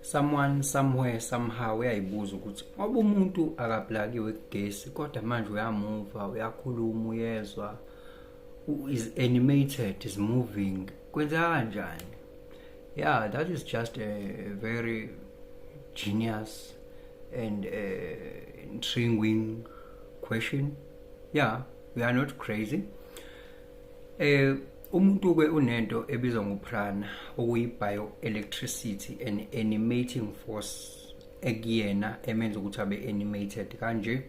someone somewhere somehow uyayibuza ukuthi ngoba umuntu akablakiwe kugesi kodwa manje uyamuva uyakhuluma uyezwa is animated is moving kwenzeka kanjani yeah that is just a very genius and uh, intriguing question yeah we are not crazy uh, Umuntu-ke unento ebizwa ngoprana okuyi-bioelectricity an animating force ekuyena emenza ukuthi abe animated kanje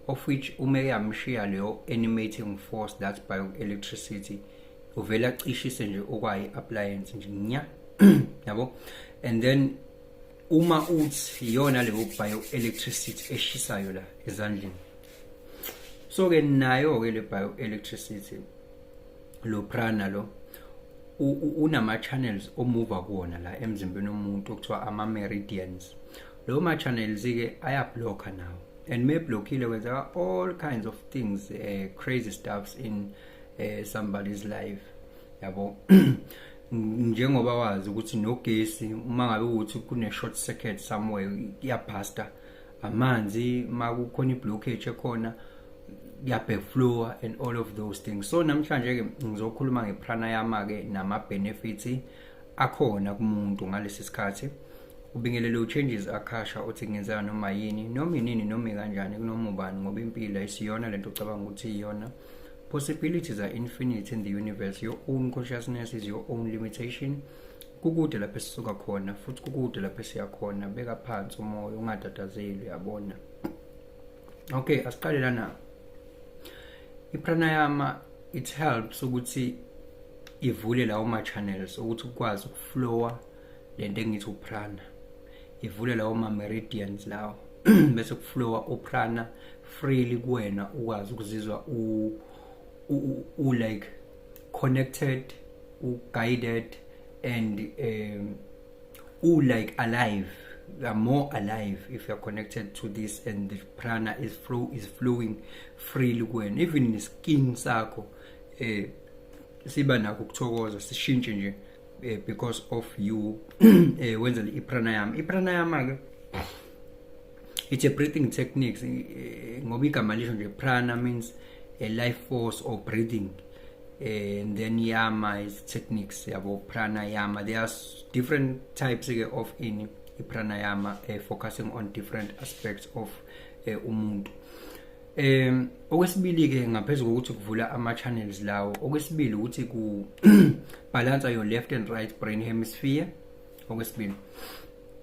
of which uma eyamshiya leyo animating force that bioelectricity uvele acishise nje okwayi-appliance nje nya yabo and then uma uthi iyona leyo bioelectricity eshisayo la ezandleni so-ke nayo-ke le bioelectricity lo prana lo unama channels omuva kuwona la emzimbeni womuntu okuthiwa ama meridians lo ma channels ke aya blocker nawo and me blockile kwenzeka all kinds of things uh, crazy stuffs in uh, somebody's life yabo njengoba wazi ukuthi nogesi uma ngabe ukuthi kune short circuit somewhere iyabhasta amanzi uma kukhona i-blockage ekhona kuyabhekflowa and all of those things so namhlanje-ke ngizokhuluma ngepranayama-ke nama-benefits akhona kumuntu ngalesi sikhathi ubingelele uchanges akhasha uthi kungenzeka noma yini noma inini noma kanjani kunoma ubani ngoba impilo ayisiyona lento ucabanga ukuthi iyona possibilities are infinite in the universe your own consciousness is your own limitation kukude lapho esisuka khona futhi kukude lapho esiya khona beka phansi umoya ungatatazeli uyabona okay asiqale lana ipranayama it helps ukuthi ivule lawo ma channels ukuthi ukwazi ukuflowa lento engithi uprana ivule lawo ma meridians lawo bese kuflowa uprana freely kuwena ukwazi ukuzizwa u u like connected u guided and um u like alive you are more alive if you are connected to this and the prana is flow is flowing freely when even the skin sakho eh siba nakho ukuthokoza sishintshe nje eh, because of you eh wenza i pranayama i pranayama ke it's a breathing techniques eh, ngoba igama lisho nje prana means a life force or breathing eh, and then yama is techniques yabo pranayama there are different types eh, of in pranayama uh, focusing on different aspects of uh, umuntu um okwesibili ke ngaphezulu kokuthi kuvula ama channels lawo okwesibili ukuthi ku balance your left and right brain hemisphere okwesibili